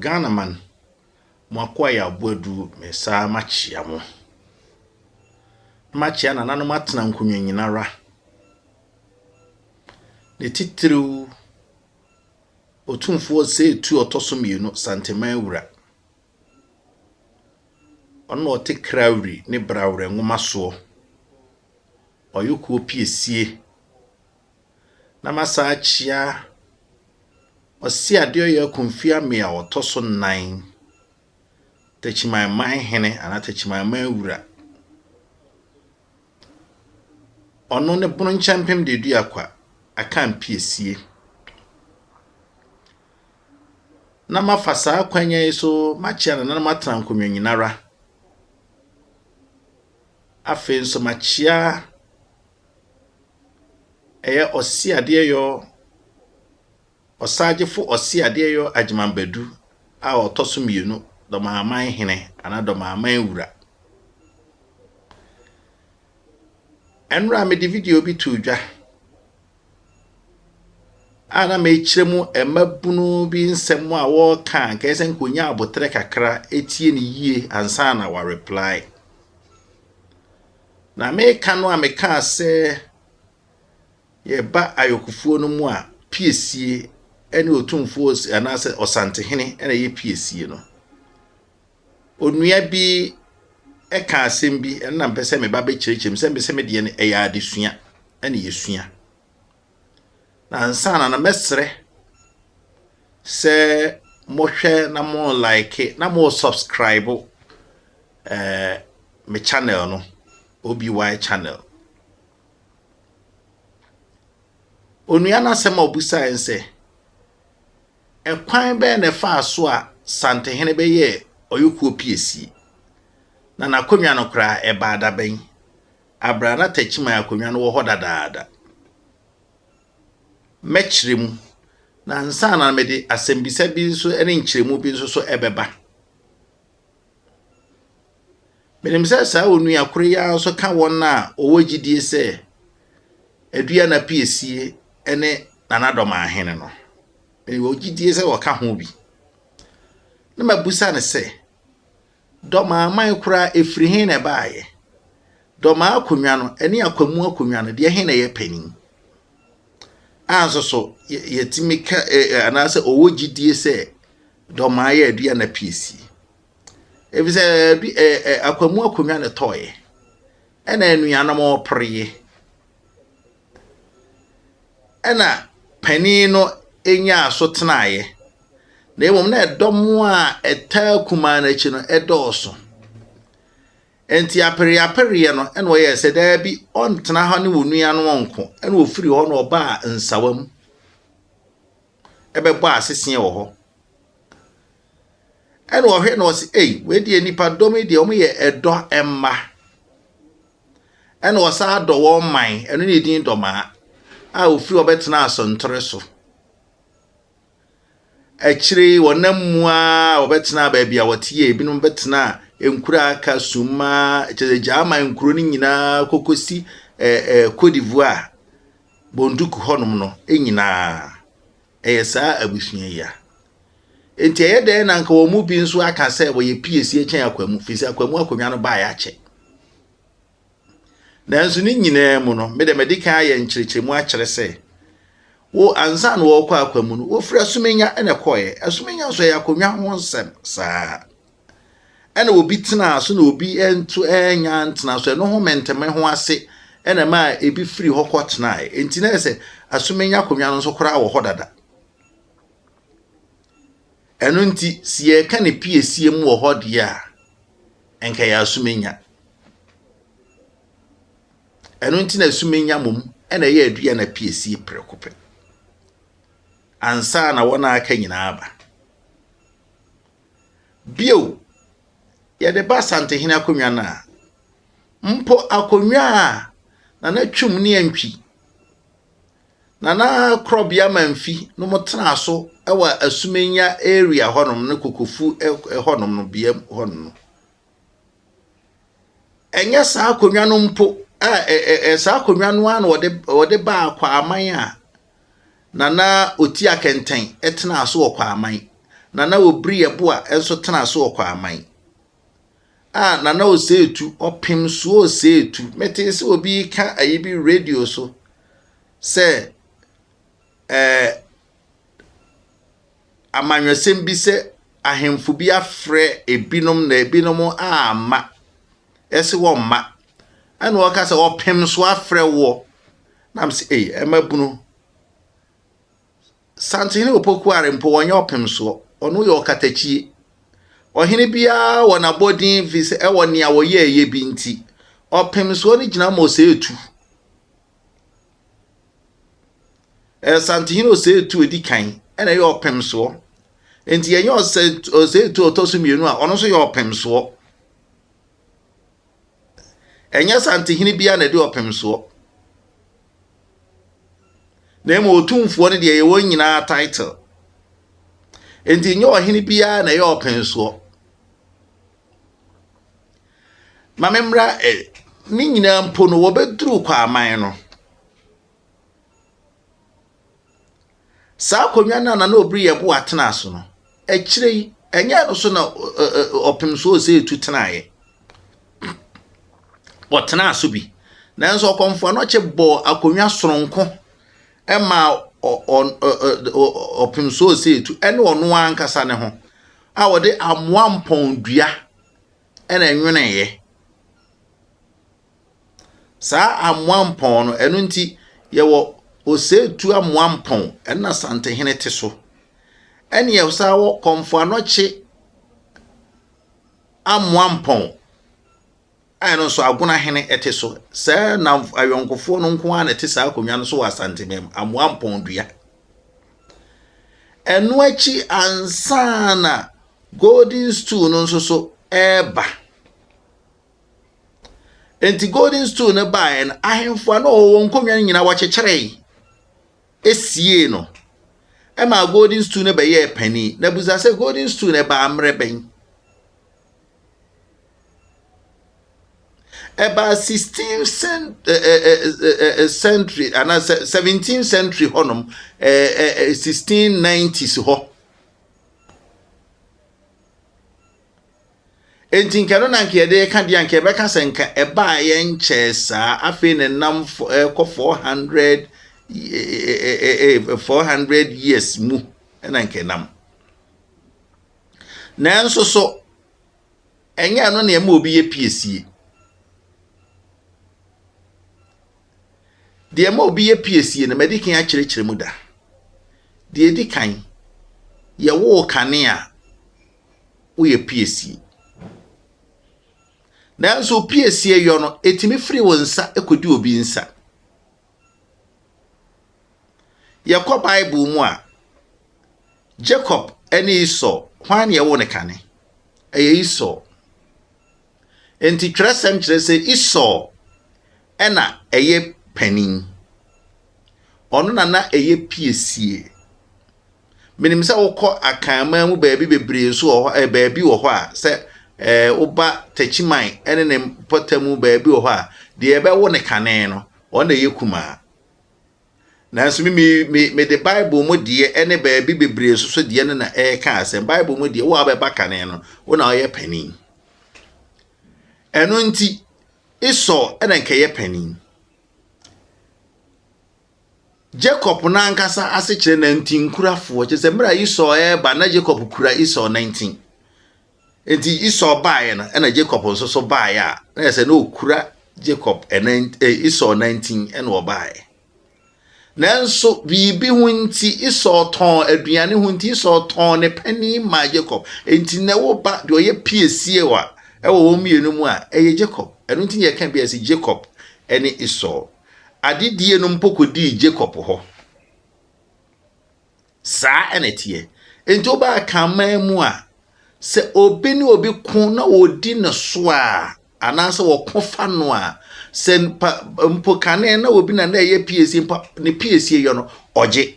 Ghanaman, mo akoa yɛ Aboadu Mensah makyea mo. Makyea nananom atena nkonnwa nyinara. Ne titiriw Otumfoɔ Osei Tuo ɔtɔ so mmienu Santeman Wura. Ɔno na ɔte Krawri ne Brawerɛ nwoma soɔ. Ɔyɛ kuo piesie. na masan akyia Ɔseadeɛyɛ Komfiamea a ɔtɔ so nnan, Takyimanman hene anaa Takyimanman wura. Ɔno ne Bononkyɛmpem Deduakwa Akampiesie. Na mafa saa akwanya yi so makyia no na na matena nkonnwa nyinara. Afei nso makyia ɛyɛ ɔseadeɛyɔ ɔsagyefo ɔseadeɛyɔ Agyeman Badu a ɔtɔ so mmienu, Dɔmaaman Hene anaa Dɔmaaman Wura. Ɛnora mede video bi too dwa a na mekyerɛ mu mmabunu bi nsɛm a wɔreka a nkɛyɛ sɛ nka ɔnya aboterɛ kakra ɛtie ne yie ansa na wɔareply. Na meka no a mekaa sɛ yɛba ayɔkofoɔ no mu a, piesie ɛne otumfoɔ anaasɛ ɔsantehene ɛna ɛyɛ piesie no. Onua bi ɛka asɛm bi ɛna mpɛ sɛ meba bɛkyerɛkyerɛ mu sɛ mpɛ sɛ medeɛ no ɛyɛ adesua ɛna yɛsua. Ansaana no mɛsrɛ sɛ mohwɛ na mo like na mo subscribe eh, me channel no oby channel onua no asɛm a ɔbusae sɛ ɛkwan bɛyɛ na ɛfaa so a santehene bɛyɛ ɔyɔkuo piesie na n'akonnwa no koraa ɛbaa dabɛn Abra na Takyiman akonnwa no wɔ hɔ dadaada. Mɛkyerɛ mu, na ansa na mede asɛmbisa bi nso ne nkyerɛmu bi nso so ɛbɛba. Menim sɛ saa onua koro yi ara nso ka wɔn a wɔwɔ gyidie sɛ adua na piesie ne nanadɔm ahene no. Mewɔ gyidie sɛ wɔka ho bi. Na mabusa no sɛ, Dɔmaa man koraa, ɛfiri he na ɛbaeɛ? Dɔmaa akonnwa no ne Akwamu akonnwa no, deɛ he na ɛyɛ panin? A nso so, yɛtumi ka anaasɛ ɔwɔ gyidie sɛ Dɔmaa yɛ aduane apiesie. Ɛfiri sɛ Akwamu akonnwa na ɛtɔeɛ, ɛna anuanom repereɛ. ɛna panin no nyaa so tenaeɛ, na mmom na ɛdɔm a ɛtaa kumaa no akyi no dɔɔso. Enti apereapereɛ no na ɔyɛɛ sɛ daabi ɔntena ha ne wɔn nuanom nko, ɛna ɔfiri hɔ na ɔbaa nsawa mu ɛbɛbɔ aseseɛ wɔ hɔ. Ɛna ɔhwɛ na ɔse, ei, wei deɛ nipadɔm yi deɛ wɔyɛ ɛdɔ mma. Ɛna ɔsan dɔ wɔn man, ɛno ne din Dɔmaa, a ofiri hɔ bɛtenaa Asɔntore so. Akyire yi, wɔnam mu ara wɔbɛtenaa baabi a wɔte yɛ, ebinom bɛtenaa nkuro a aka, Summa, kyerɛ sɛ Gyaama nkuro no nyinaa kɔkɔsi eh, eh, Cote d'Ivoire, Bonduc hɔnom no nyinaa. ɛyɛ saa abusua yi a. Enti ɛyɛ dɛn na anka wɔn mu bi nso aka sɛ wɔyɛ piesie kyɛn akwamu, firi sɛ akwamu akonnwa no baeɛ akyɛ. Nanso ne nyinaa mu no, me de madi kan ayɛ nkyerɛkyerɛmu akyerɛ sɛ, wo ansa na wɔrekɔ akwamu no, wɔfiri asomenya na ɛkɔeɛ. Asomenya nso ɛyɛ akonnwa ho nsɛm saa. ɛna obi tenaa so na obi nto ɛnya ntena so ɛno ho mɛntɛmɛ ho ase ɛna ɛma ebi firi hɔ kɔ tenae nti na ɛsɛ asomenya akonnwa no nso koraa wɔ hɔ dada ɛno nti si yɛka ne piesie mu wɔ hɔ deɛ a nka yɛ asomenya ɛno nti na asomenya mom ɛna ɛyɛ adua na piesie prɛko pɛ ansa na wɔn a aka nyinaa aba Bio, yɛde ba Asantehene akonnwa no a, mpo akonnwa a Nana Twum ne Antwi, Nana Korɔbea Mamfi nom tenaa so wɔ Asumenya area hɔnom ne Kokofu hɔnom no bea hɔnom no, ɛnyɛ saa akonnwa no mpo a ɛ ɛ ɛ saa akonnwa no ara na wɔde wɔde baa Kwaman a Nana Otia Kɛntɛn tenaa so wɔ Kwaman. Nana Obiri Yeboah nso tenaa so wɔ Kwaman. A Nana Oseetu, ɔpem so Oseetu. Metee sɛ obi ka ayi bi radio so sɛ ɛɛ amanyɔsɛm bi sɛ ahemfo bi afrɛ ebinom na ebinom amma. Ɛse wɔmma. Ɛna ɔka sɛ ɔpem so afrɛ woɔ. Na m sɛ ei ɛma bunu. Santehene Opokuare mpo wɔnyɛ ɔpem soɔ. Ɔno yɛ ɔkatakyie. Ɔhene biara wɔ n'abɔdin fi sɛ ɛwɔ nea wɔyɛ ɛyɛ bi nti. Ɔpem soɔ no gyina ma ɔsɛ etu. Asantehene Osei-Tuo edi kan na ɛyɛ ɔpemsoɔ. Nti yɛnyɛ Osei-Tuo a ɔtɔ so mmienu a ɔno nso yɛ ɔpemsoɔ. Ɛnyɛ Asantehene biara na ɛde ɔpemsoɔ. Na mmom otumfoɔ no deɛ ɛyɛ wɔn nyinaa title. Nti nyɛ ɔhene biara na ɛyɛ ɔpemsoɔ. Ma memmra ɛ. Ne nyinaa mpo no, wɔbɛduruu Kwaaman no. Saa akonnwa no a na na obiri yɛ boa tena so no, akyire yi, ɛnyɛ no so na ɔpem so ɔsɛ etu tenaeɛ. Ɔtenaa so bi, nanso ɔkɔmfo anɔkye bɔɔ akonnwa soronko maa ɔpem so ɔsɛ etu ne ɔno ankasa ne ho. a wɔde amoa mpɔn dua na ɛnweneeɛ. Saa amoa mpɔn no, ɛno nti yɛwɔ Osetu amoa mpɔn, ɛno na Santehene te so. Ɛne yɛsan wɔ Kɔmfoanɔkye amoa mpɔn. a ɛno nso Agona hene te so. Saa nnamfo ayɔnkofoɔ no nko ara na ɛte saa akonnwa no so wɔ Asantemam, Amoa Mpɔndua. Ɛno akyi ansa na Golden Stool no nso so ɛreba. Enti Golden Stool no baeɛ no, ahemfo a na wɔwɔ nkonnwa no nyinaa wɔkyekyeree esiee no. Ɛma Golden Stool no bɛyɛɛ panin. Na busa sɛ Golden Stool no ɛbaa mmerɛ bɛn? Ɛbaa sixteenth cent ɛ ɛ ɛ ɛ century anaa seventeenth century hɔnom ɛ ɛ ɛ sixteen nineties hɔ. Enti nka no na nka yɛde reka deɛ nka yɛbɛka sɛ nka ɛbaa yɛ nkyɛɛ saa afei ne nam ɛkɔ four hundred four hundred years mu ɛna nka ɛnam. Nanso so ɛnyɛ ɛno na ɛma obi yɛ piesie? Deɛ ɛma obi yɛ piesie no, madi kan akyerɛkyerɛ mu da. Deɛ ɛdi kan, yɛwoo kane a woyɛ piesie. Nanso piesie yɔ no, ɛtumi firi wo nsa kɔdi obi nsa. Yɛkɔ Bible mu a, Jacob ne Esau, hwan na ɛwɔ ne kane? Ɛyɛ Esau. Enti twerɛsɛm kyerɛ sɛ Esau ɛna ɛyɛ panin. Ɔno na na ɛyɛ piesie. Menim sɛ wokɔ Akanman mu baabi bebree nso wɔ hɔ, eh, baabi wɔ hɔ a sɛ eh, woba Takyiman ne ne mpɔtam mu baabi wɔ hɔ a, deɛ ɛbɛwo ne kane no, ɔno na ɛyɛ kumaa. Nanso me, me, me, mede Bible mu deɛ ne baabi bebree nso so deɛ no na ɛreka asɛm. Bible mu deɛ, wo a wobɛba kane no, wo na ɔyɛ panin. Ɛno nti, Esau na nka ɛyɛ panin. Jacob no ankasa ase kyerɛ nantinkurafoɔ, kyerɛ sɛ mmerɛ a Esau ɛreba na Jacob kura Esau nantin. Enti Esau baeɛ no ɛna Jacob nso so baeɛ a na yɛ sɛ na ɔkura Jacob ɛnan eh, Esau nantin ɛna ɔbaeɛ. Nanso biribi ho nti Esau tɔn aduane ho nti Esau tɔn ne panin maa Jacob. Enti na ɛwɔ ba deɛ ɔyɛ piesie wa ɛwɔ wɔn mmienu mu a ɛyɛ Jacob. Ɛno nti na yɛka bi a ɛsɛ Jacob ɛne Esau. Adedie no mpo kɔdii Jacob hɔ. Saa na ɛteɛ. Enti woba akanman mu a, sɛ obi ne obi ko na wɔdi ne so a, anaasɛ wɔko fa no a, sɛ pa, mpo kane na obi na na ɛyɛ piesie mpo ne piesie yɔ no, ɔgye.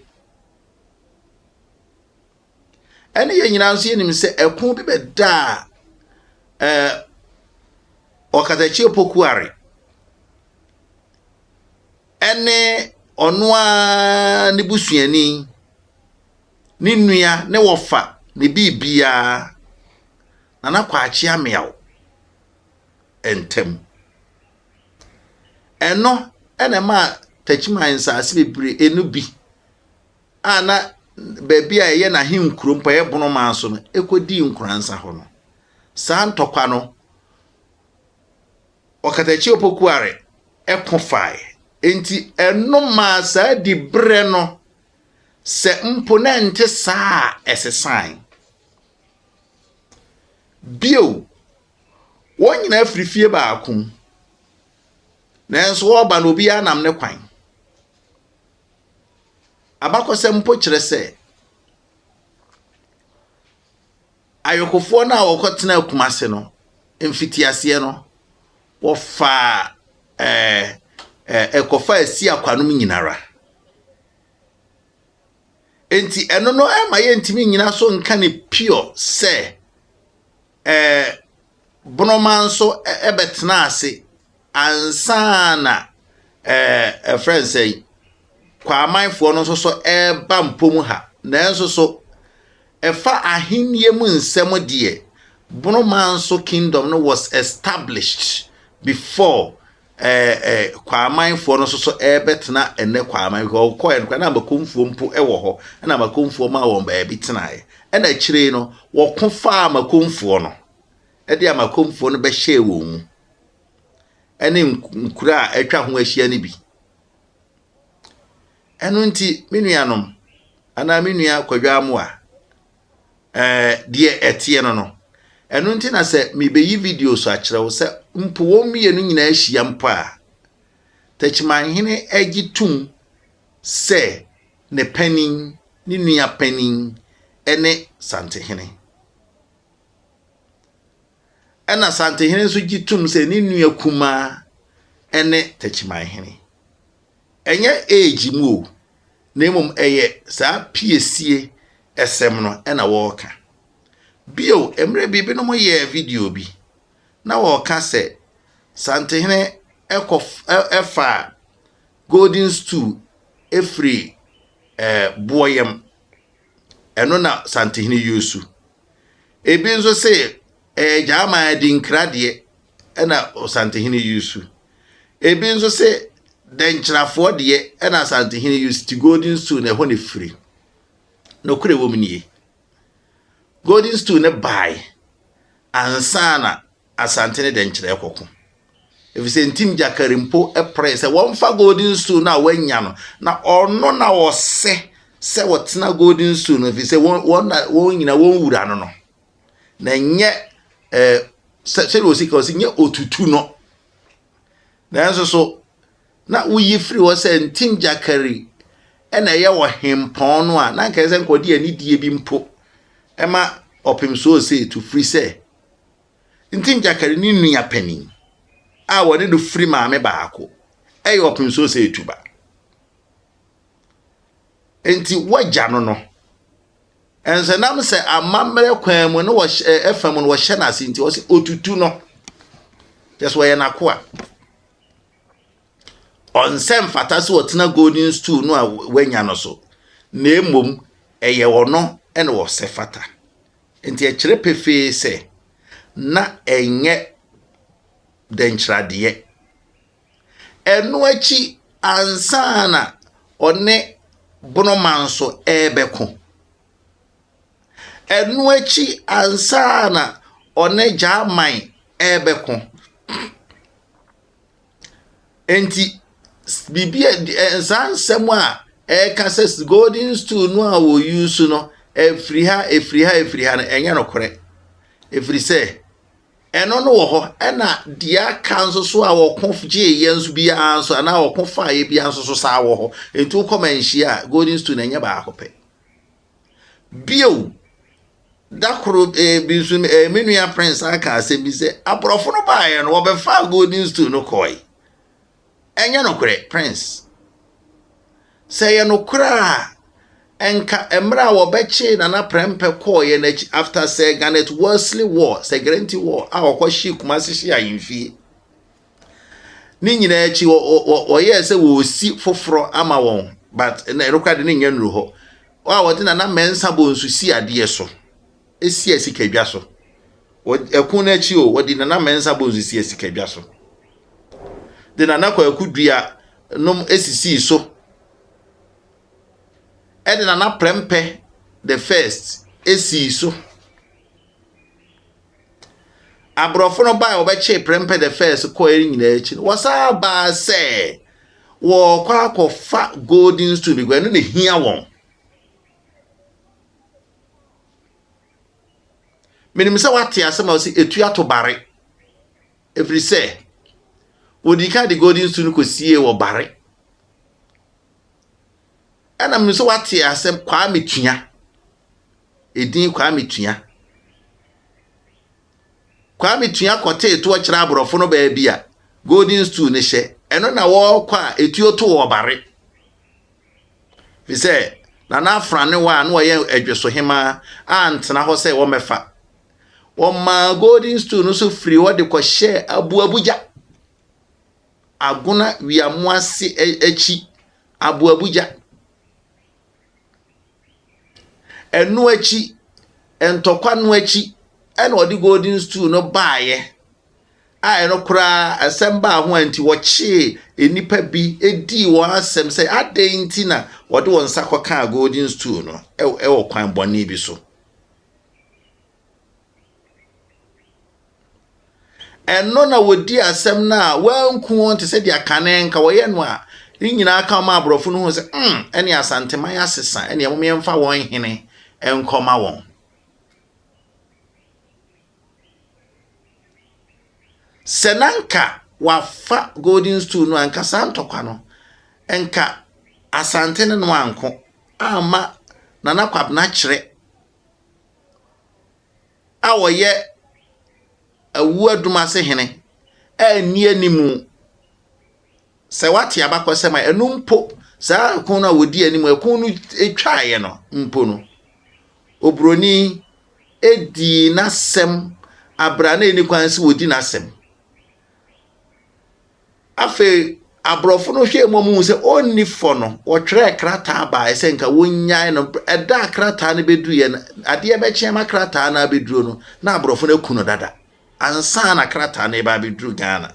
Ɛne yɛn nyinaa nso yɛnim sɛ ɛko bi bɛdaa ɛɛ ɔkatakyie pokuare ɛne ɔno ara ne busuani ne nua ne wɔfa ne biribiara nana kwakye ameaw ntam ɛno ɛna ɛma takyiman nsaase bebree ɛno bi a na baabi a ɛyɛ n'ahenkurom pa yɛ Bono man so no, ɛkɔdii nkoransa hɔ no. Saa ntɔkwa no, Ɔkatakyi Opokuare ko fae. Enti ɛno maa saa diberɛ no, sɛ mpo na ɛnte saa a, ɛsesae. Bio, wɔn nyinaa firi fie baako mu, nanso wɔreba no, obiara nam ne kwan. Abakɔsɛm mpo kyerɛ sɛ ayokofoɔ no a wɔkɔtenaa Kumase no mfitiaseɛ no wɔfaa ɛɛ ɛɛ ɛkɔfa asi akwanom nyinara. Enti ɛno no ɛma yɛntumi nyina so nka ne pure sɛ. Ɛɛ, Bonoman nso bɛtenaa ase ansa na ɛɛ ɛfrɛ no sɛn, Kwaamanfoɔ no nso so reba Mpom ha. Nanso so, ɛfa ahennie mu nsɛm deɛ, Bonoman nso kingdom no was established before Ɛɛ ɛ, Kwaamanfoɔ no nso so rebɛtena ɛnnɛ Kwaaman, because wɔkɔɔɛ no koraa na Amakomfoɔ mpo wɔ hɔ, ɛna Amakomfoɔ maa wɔn baabi tenaeɛ. Ɛna akyire yi no, wɔko faa Amakomfoɔ no, ɛde Amakomfoɔ no bɛhyɛɛ wɔn mu, ɛne nkuro a atwa ho ahyia no bi. Ɛno nti, me nuanom, anaa me nua Kwadwo Amoah, eh, deɛ ɛteɛ no no. Ɛno nti na sɛ mebeyi video so akyerɛ wo sɛ mpo wɔn mmienu nyinaa hyia mpo a, Takyimanhene agye tum sɛ ne panin, ne nua panin ne Santehene. Ɛna Santehene nso gye tum sɛ ne nua kumaa ne Takyimanhene. Ɛnyɛ age mu o, na mmom ɛyɛ saa piesie sɛm no na wɔreka. Bio, mmerɛ bi binom yɛɛ video bi na wɔreka sɛ Santehene kɔ faa golden stool firii eh, boɔ yam. Ɛno na Santehene yusu. Ebi nso se ɛyɛ Gyaman adinkra deɛ na Osantehene Yusu. Ebi nso se Dɛnkyirafoɔ deɛ na Asantehene Yusu te Golden Stool na ɛhɔ na ɛfiri. Nokorɛ wɔ mu nie. Golden Stool no bae ansa na Asante ne Dɛnkyira ɛkɔko. Ɛfiri sɛ Ntim Gyakari mpo pere sɛ wɔmfa Golden Stool no a wanya no na ɔno na ɔsɛ sɛ wɔtena Golden Stool no ɛfiri sɛ wɔn nyina wɔn wura no no. na ɛnyɛ eh, sɛdeɛ ɔsi ka ɔsi nyɛ otutu no nanso so na woyi firi hɔ sɛ ntim gyakari ɛna ɛyɛ wɔ hempɔn no a na nkae sɛ nkɔde anidie bi mpo ɛma ɔpem so ɔsɛ etu firi sɛ ntim gyakari ne nua panin a wɔne no firi maame baako ɛyɛ ɔpem so ɔsɛ etu ba nti wagya no no Nanso ɛnam sɛ amammerɛ kwan mu no wɔhyɛ fam no wɔhyɛ no ase nti ɔsɛ otutu no. Kyɛ sɛ ɔyɛ n'akoa. Ɔnsɛ mfata sɛ ɔtena golden stool no a wanya no so. Na mmom ɛyɛ ɔno na ɔsɛ fata. Nti ɛkyerɛ pefee sɛ na ɛnyɛ dɛnkyerɛadeɛ. Ɛno akyi ansa na ɔne Bonoma nso rebɛko. Ɛno akyi ansa na ɔne Gyaaman rebɛko. Enti biribi a saa nsɛm a ɛreka sɛ golden stool no a wɔyusu no, ɛfiri ha, ɛfiri ha, ɛfiri ha no, ɛnyɛ nokorɛ. Ɛfiri sɛ. Ɛno no wɔ hɔ, ɛna deɛ aka nso so a wɔko gyeeɛ nso biara nso anaa wɔko faeɛ biara nso so saa wɔ hɔ. Nti wokɔ manhyia a, golden stool na ɛnyɛ baako pɛ. Bio, da koro eh, bi nso eh, me nua prince aka asɛm bi sɛ aborɔfo no baeɛ no wɔbɛfaa golden stool no kɔe. Ɛnyɛ nokorɛ, Prince. Sɛ ɛyɛ nokorɛ a, ɛnka mmerɛ a wɔbɛkyee Nana Prɛmpɛ kɔɔeɛ no akyi, after Sir Garnet Wolseley War, Sir Guarantee War, a wɔkɔhyee Kumasi hyee ahemfie, ne nyinaa akyi, wɔyɛɛ sɛ wɔresi foforɔ ama wɔn, but ɛno koraa de ne nyɛ nnuru hɔ, a wɔde Nana Mɛnsa Bonsu sii adeɛ so. Esi a sika dwa so. Wɔ ɛko no akyi o, wɔde Nana Mensah Bones sii a sika dwa so. De Nana Kwaku Dua nom sisii so. Ɛde Nana Prɛmpɛ the first sii so. Aborɔfo no baa a wɔbɛkyee Prɛmpɛ the first kɔɛ no nyinaa akyi no, wɔsaa baa sɛ wɔrekɔ akɔfa golden stool because ɛno na ehia wɔn. menim sɛ wate asɛm a ɔsi etu ato bare ɛfiri sɛ wɔdi kan de golden su no kɔsiee wɔ bare ɛna menim sɛ wate asɛm kwaa metua ɛdin kwaa metua Kwame Tua kɔtee toɔ kyerɛ aborɔfo no baabi a Golden Stool no hyɛ. Ɛno na wɔrekɔ a etuo to wɔ Ɔbare. Efisɛ Nana Afran ne wɔ a na ɔyɛ Adweso Hemaa antena hɔ sɛ wɔmmɛfa. Wɔmaa Golden Stool no so firi hɔ de kɔhyɛɛ Aboabugya, Agona Wiamoase akyi Aboabugya. Ɛno akyi, ntɔkwa no akyi na ɔde golden stool no baeɛ a ɛno koraa asɛm baa ho a nti wɔkyee nnipa bi dii wɔn asɛm sɛ adɛn nti na wɔde wɔn nsa kɔkaa golden stool no wɔ kwan bɔne bi so. Ɛno na wɔdii asɛm no a wɔanku wɔn te sɛ deɛ kane nka wɔyɛ no a ne nyinaa ka ma aborɔfo no hu sɛ mm ɛne asanteman asesa ɛne ɛmom yɛmfa wɔn hene nkɔma wɔn. Sɛ na nka wafa golden stool no a nka saa ntɔkwa no nka asante no no anko amma nana kwabena kyerɛ a ɔyɛ awuo adum ase hene a nni anim. Sɛ wate abakɔsɛm a, ɛno mpo, saa ko no a wɔdi anim, ɛko no twaeɛ no mpo no, oburoni dii n'asɛm abere a na ɛni kwan sɛ wɔdi n'asɛm. Afei aborɔfo no hwɛɛ mu a wɔhuu sɛ ɔnni fɔ no, wɔtwerɛɛ krataa baeɛ sɛ nka wɔnnyae no. Ɛda a krataa no bɛduruiɛ no, adeɛ bɛkyeɛ ma krataa no abɛduru no, na aborɔfo no aku no dada ansa na krataa no reba abɛduru Ghana,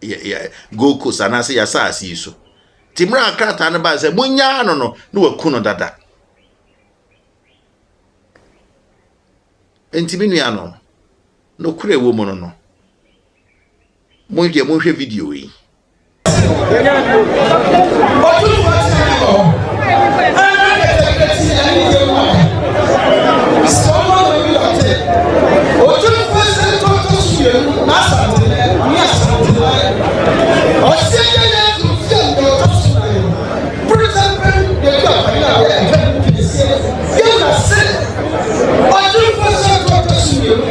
yɛ, yɛ, Gold Coast anaasɛ yɛ asase yi so. Nti mmerɛ a krataa no baeɛ sɛ monnyaa no no, na waku no dada. Nti me nuanom, nokorɛ wɔ mu no no, Mo nkyɛn mo nhwɛ video yi.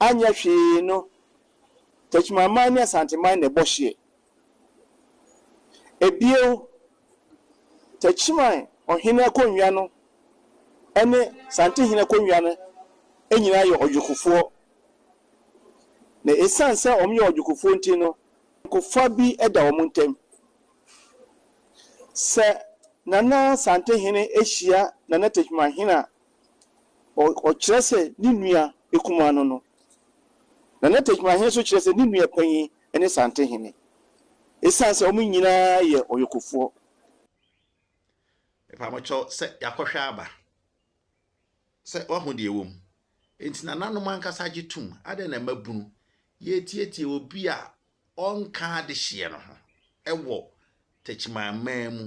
Anyɛ hwee no, Techimanman ne Asanteman na ɛbɔ hyeɛ. Bio, Techiman ɔhene akonnwa no ne Santehene akonnwa no nyinaa yɛ ɔdwokofoɔ. Na ɛsiane sɛ wɔyɛ ɔdwokofoɔ nti no, ayɔnkofa bi da wɔn ntam. Sɛ Nana Santehene hyia Nana Techimanhene a, ɔkyerɛ sɛ ne nua kumaa no no, na na tɛkrɛmahe nso kyerɛ sɛ ne nua panyin ne santehene, esiane sɛ wɔn nyinaa yɛ ɔyɔkofoɔ. Mepa mo kyɛw sɛ yɛakɔhwɛ aba, sɛ woahu deɛ ɛwɔ mu. Enti nananom ankasa agye tom, adɛn na ɛma bunu yɛtiatia obi a ɔnka adehyeɛ no ho wɔ tɛkyiman man mu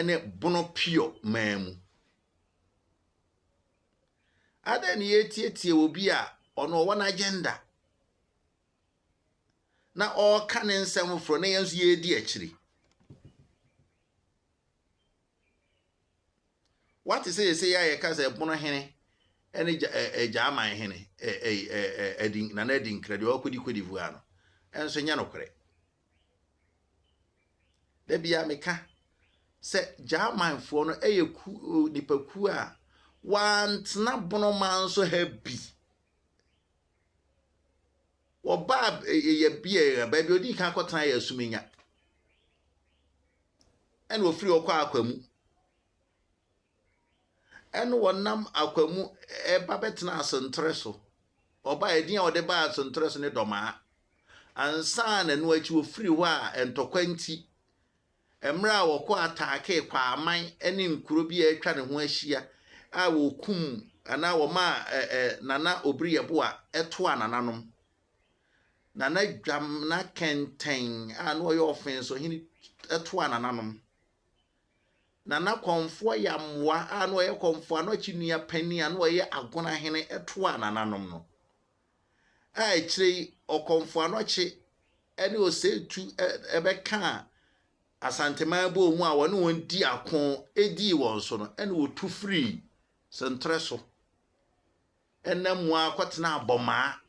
ne bono pure man mu? Adɛn na yɛretiatia obi a ɔno ɔwɔ n'agenda na ɔreka ne nsɛm foforɔ na yɛn nso yɛredi akyiri? Wate sɛ yɛsɛ yɛ a yɛka sɛ pono hene ne Gyaman hene Nana Adi Nkra deɛ ɔkɔdi Cote d'Ivoire no, ɛnso nyɛ nokorɛ. Da biara meka sɛ Gyamanfoɔ no yɛ nipakuo a wɔantena bonoman so ha bi. Wɔbaa yɛ bea baabi a ɔdii kan akɔtena yɛ Asumenya. Ɛna ɔfiri hɔ kɔ Akwamu. Ɛnna wɔnam akwan mu ba bɛtenaa Sentere so. Wɔbae a, edin a wɔde baa Sentere so ne Dɔmaa. Ansa na ɛno akyi wɔfirii hɔ a, ntɔkwa nti, mmerɛ a wɔkɔ ataakee Kwaaman ne nkuro bi a atwa ne ho ahyia a wɔkum anaa wɔmaa ɛ ɛ Nana Obiri Yeboa toaa nananom. Nana Dwamena Kɛntɛn a na ɔyɛ Ɔfenso hene toaa nananom. Nana Kɔmfoɔ Yammoa a na ɔyɛ Kɔmfoɔ ano akyinnua panin a na ɔyɛ Agona hene toaa nananom no, a akyire yi Ɔkɔmfoɔ Anɔkye ne Oseitu bɛkaa Asanteman bɔɔ mu a wɔne wɔn dii ako dii wɔn so no, ɛnna wɔtu firii Sentere so nam mu ara kɔtenaa Bɔmaa.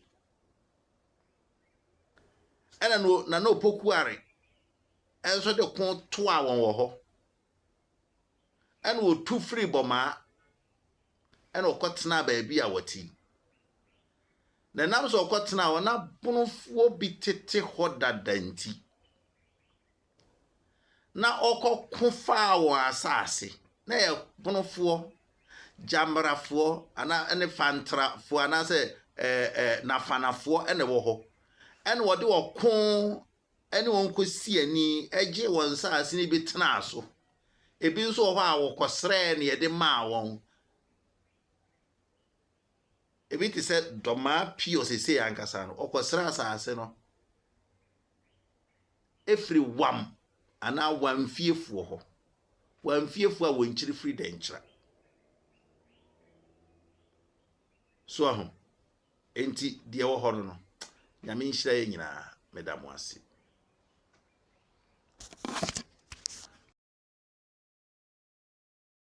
Ɛnna no Nana Opokuare nso de ko toaa wɔn wɔ hɔ. Ɛnna wɔtu firii Bɔmaa, ɛnna wɔkɔtenaa baabi a wɔte yi. Na ɛnam sɛ wɔkɔtenaa hɔ na Bonofoɔ bi tete hɔ dada nti, na ɔkɔko faa wɔn asase. Na ɛyɛ Bonofoɔ, Gyambrafoɔ anaa ne Fantrafoɔ anaasɛ ɛɛ ɛɛ Nafanafoɔ na ɛwɔ hɔ. Ɛnna wɔde wɔn ko ne wɔn kɔsii ani gyee wɔn nsase no bi tenaa so. Ebi nso wɔ hɔ a, wɔkɔsrɛɛ na yɛde maa wɔn. Ebi te sɛ Dɔmaa Pio seesei ankasa no, ɔkɔsrɛ asase no firi Wam anaa Wamfiefoɔ hɔ. Wamfiefoɔ a wɔn kyiri firi Dɛnkyira. So ahu? Enti deɛ ɛwɔ hɔ no no, Nyame nhyira yɛn nyinaa. Meda mo ase.